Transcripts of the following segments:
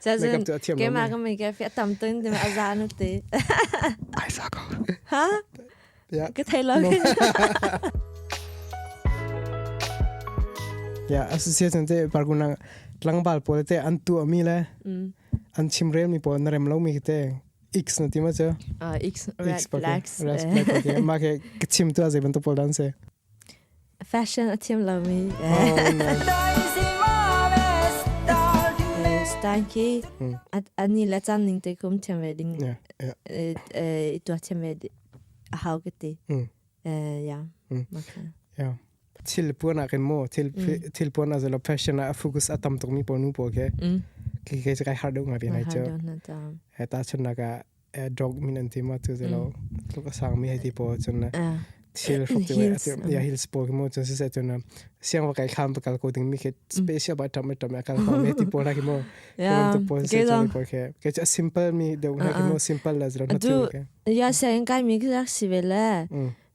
Cazin keimah ka mei ka fi tam tun ti a za nu ti. Ai sa ko. Ha? Ja. Ka thei lo kin. Ya association te parkunang tlangbal pole te an tu ami le an chimrel mi pole na rem lo mi te X na tima cha. Ah X red flags. Red flags ma ke chim tu azai ban to pol dan se. Fashion a thiam lomi style khi ani le chan ning te kum thiam ve ding i tua thiam ve a hau ka ti. Yeah. Yeah. Thil puan ah kan mo thil puan as a fashion a focus a tam tuk mi ponu po ke ki ke kai har deuh nga bi nai cho. He ta chun naga adog min an ti ma tu ze lo tluk a sang mi hei ti po cun na thil hruk ti we ya hills po mo cun se cun na siang wa kai kham pa kal ko ding mi ke special ba tam tam kal ko me ti po la ki mo to po se cun ko ke ke cha simple mi de na ki mo simple la zro na tu ke ya se in kai mi ki rak si ve le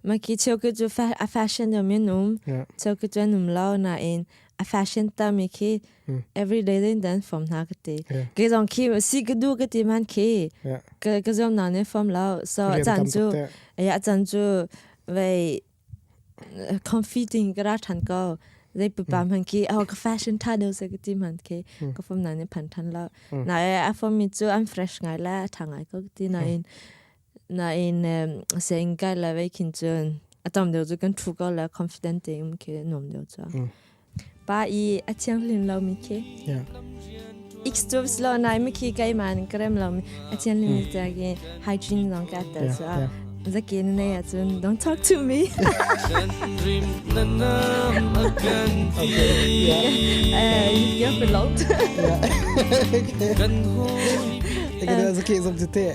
Maki cheuki cu a fashion um in um. Cheuki cu an um lo nain a fashion tami khi everyday den dan form hna ka ti. Ke zong khi si ka du ka ti man khi ka zom na ne form lo. So a chan cu a chan cu vei comforting ka ra than ko. Zai pupa man khi oh ka fashion tha deu se ka ti man khi ka form na ne pan than lo. Na a form mi cu unfresh ngai la tha ngai ko ka ti nain Nain saying kai la vei khin cun atam deuh cu kan thu ko la confident tein khi nuam deuh cu. Pa i a thianghlim lo mi khi. Extubs lo nai mi khi kai man krem lo mi a thianghlim mi ta gi hygiene long ka ta cu. Zakin ne a cun don't talk to me. You're beloved. Kan hu. Ik heb dat een keer op de thee.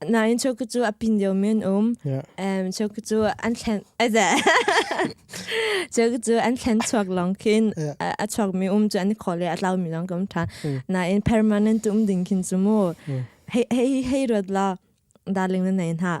Nain choku cu a pin deu men um. Um choku cu an thlen aza. choku cu an thlen chuak long khin a chuak mi um chu an kho le a tlau mi long kam tha. Nain permanent um ding khin chu mu. Hei hei hei rot la darling na nei na.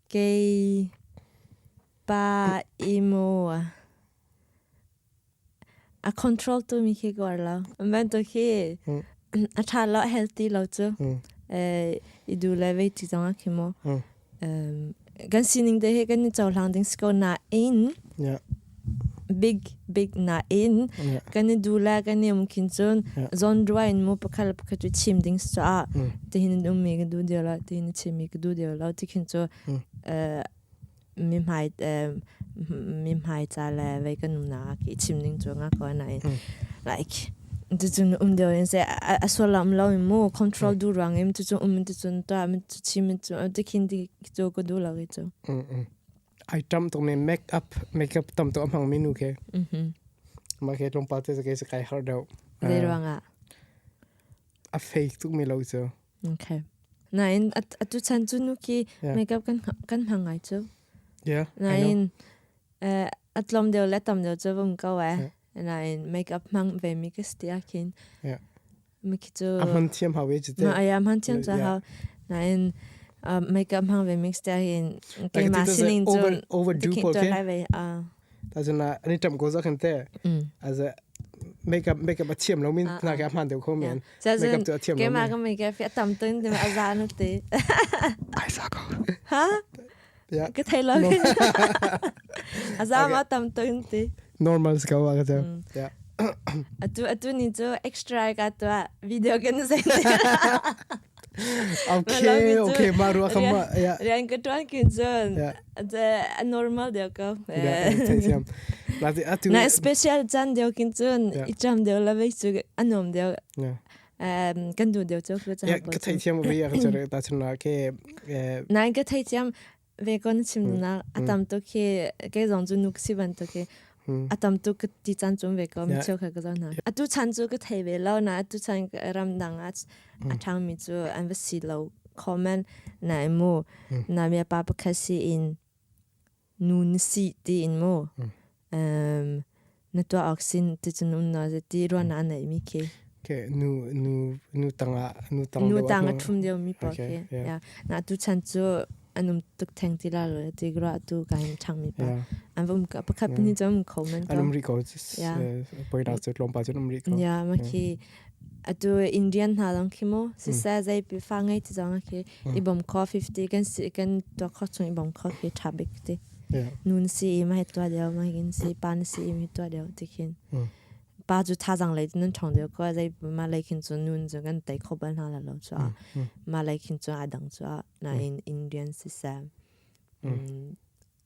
Kei pa i mu. A control tu mi khi kuar lo. Bantuk hi a tha lo healthy lo cu. I du le vei ti zong a khi mu. Kan sining te hi kan i cohlang ding si ko nain. big big nain kan i du le kan i um khin cun genre in mu pakhat pakhat cu chim ding sa tihin um mi ka du dio lo tihin chim mi ka du dio lo ti khin cu mi hmai mi hmai ca le vei kan um na ki chim ding cu nga ko na in like tu cun um dio in se a solam lo in mu control du rang im tu cun um tu cun ta mi tu chim tu ti khin ti cu ka du lo ki cu ai tam tuk ne make up make up tam tuk a hmang mi nu ke ma ke tlong pa te ke se kai har dau Ve ruangah. a fake tuk mi lo chu Okay. Nain at atu chan cu nu ki Yeah. makeup kan kan hmang ngai cu. yeah I know. Nain eh atlom deu le tam deu cu vom ko eh. Yeah. Nain makeup hmang ve mi ka stia kin. Yeah. mikhi cu a hman thiam hau ve cite ma aya hman thiam cha hau na in makeup hang ve mix ta hin ke ma sining cu overdo ko ke lai ve a ta jana ani tam ko za khan te as a makeup makeup a thiam lo min na ka hman deu kho men makeup tu a thiam lo ke ma ka makeup fi tam tin de a za nu te ai sa ko ha ka thei lo a zang a tam to yung ti normal ska wa ka te yeah atu atu ni chu extra ka to video kan sai okay okay ma ru ka ma yeah rian ka tuan kin chun je a normal deu ka na special chan deu kin chun i cham deu la ve chu anom deu um kan nu deu chu chu ya ka thei thiam ve ya chu re ta chun na ke nai ka thei thiam ve kon chim na atam to ke ke zong chu nuk si ban to ke atam to ka ti chan chum ve ko mi cheu kha ka zong na atu chan chu ka thei ve lo na atu chan ram dang a athang mi chu an va si lo comment na mu na mya pa pa khasi in Nu na si tiin mu. Na tuah awk sin ticun um na zeti ruan ah naih mi khi. Okay, nu nu nu tang ah nu tang Nu tang a ṭhum deo mi pa khi. Na tu chan cu an um tuk theng ti la lo ti gra tu kain ṭhang mi pa. An vom ka pakhat pini cun um kho man ka. An um ri ko. Poi na cu tlawm pa cun um ri ko. Ya ma khi Atu Indian hna dang khi mu sisa zai pi fa ngai ti zong khi i bom kho 50 kan si kan to kho chung i bom kho khi tha bik ti nun si i mai tua deo mai kin si pa na si i mai tua deo ti khin pa chu tha zang lei nan thong deo ko zai ma lai khin chu nun chu kan tai kho bal hna la lo chu ma lai khin chu a dang chu na in Indian sisa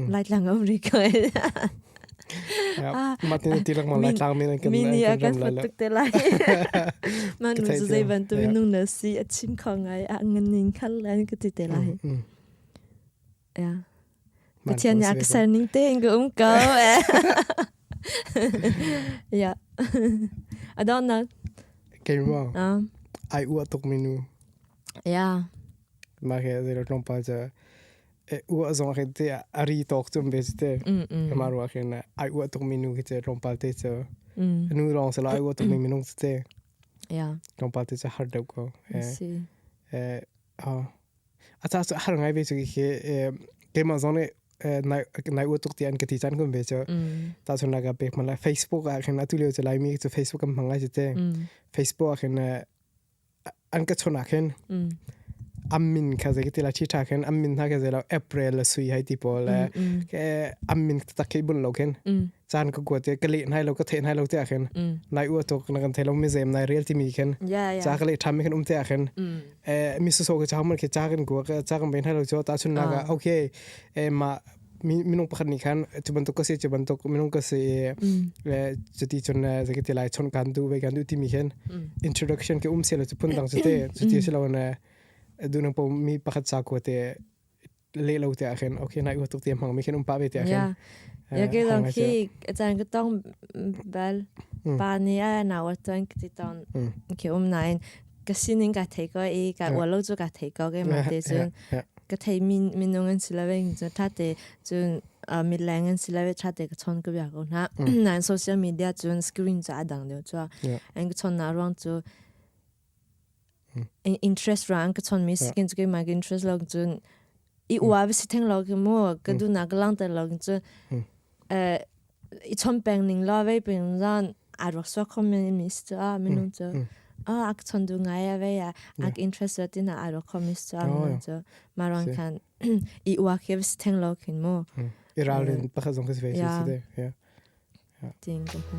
Laitlang America Martin tilak ma laitlang min kan min ni akan fatuk te lai man nu zai ban tu nung na si a chim kho ngai a nganin khal lan ka ti te lai ya pathian ya ka sarning te in um ko ya I don't know Kay mo. Um, ai ua tuk menu. Yeah. Mah hi zei lo tlawmpal cu ua zong khi te a ri tok cum ve cu te. Mah ruah khi na ai ua tuk mi nu khi cu tlawmpal te cu. Nu lawng se lo ai ua tuk mi minung cu te. Tlawmpal te cu har deuh ko. A ca cu har ngai ve cu khi keimah zong nih nai ua tuk ti an ka ti chan kun ve cu. Ta chun nak pek ma la Facebook ah khin atu lio cu Laimi cu Facebook kan hmang ai cu te. Facebook ah khin an ka chona khin ammin kha zei ti la chi tha khin ammin hna ke zei lo april la sui hai ti po le ke ammin tak ke bun lo khin chan ka kuat ka le nai lo ka the nai lo te khin nai u to na kan thai lo mi zem nai real ti mi khin cha ka le tham khin um te khin e mi su so ka cha man ke cha kan ku ka cha kan be nai lo cho ta chun na ga okay e ma minung pakhat nih khan cu bantuk ka si cu bantuk minung ka si i cuti cun zaki ti lai chon kan du ve kan du timi khin introduction ke um se lo cu phun dang cu te cuti si lo ne du nang po mi pakhat sa ko te le lo te a khin okay nai u tuk te mang mi khin um pa ve te a khin ya ke dang khi achan ka tong bal pa ni a na wa ton ki tong ke um nain ka sining ka thei ko i ka ual lo cu ka thei ko ke ma te cun ka thei min minung an si lawin cu tha te cun mit leng an si lawe tha te ka chon ku bia ko na nan social media cun screen ca adang deu chu an ka chon na ruang cu interest ra an ka chon mi skin cu ke ma interest lo cun i ua vi si theng lo ki mu ka du na ka lang ter lo ki chu eh i chom peng ning lo ve peng zan a rak so communist a minu chu a ak chon du ngai ya ve ya ak interested in a ro communist a minu chu ma rong khan i ua ke si theng lo kin mu iralin pakhat zong ka si ve si si de yeah ding ka mu